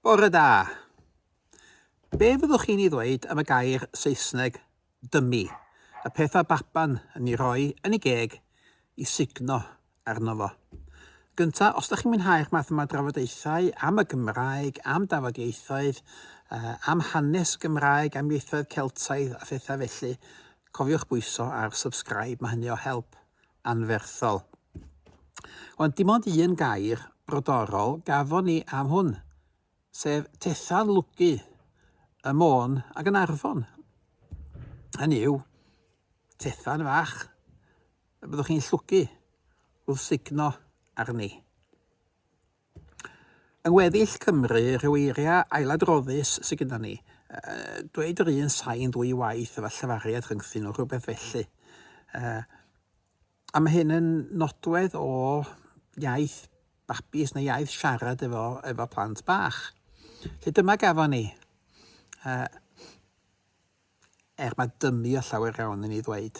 Bore da! Be fyddwch chi'n ei ddweud am y gair Saesneg 'dummy', y peth mae baban yn ei roi yn ei geg i sugno arno fo? Gyntaf, os dych chi'n mwynhau'r math yma o drafodaethau am y Gymraeg, am dafodieithoedd, am hanes Gymraeg, am ieithoedd Celtaidd a phethau felly, cofiwch bwyso ar 'subscribe', mae hynny o help. anferthol. Ond dim ond un gair brodorol gafon ni am hwn, sef tetha'n lwgu y Môn ac yn Arfon. Hynny yw, tetha'n fach y byddwch chi'n llwgu wrth sugno arni. Yng ngweddill Cymru, rhyw eiriau ailadroddus sydd gyda ni. Dweud yr un sain ddwy waith efo llefariad rhyngthyn nhw, rhywbeth felly. A mae hyn yn nodwedd o iaith babis neu iaith siarad efo, efo plant bach. Felly dyma gafon ni. Er mae dymu o llawer iawn i ni ddweud.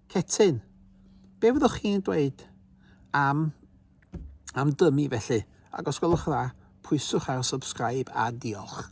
Cetyn, be fyddwch chi'n dweud am, am dymu felly? Ac os gwelwch yn dda, pwyswch ar subscribe a diolch.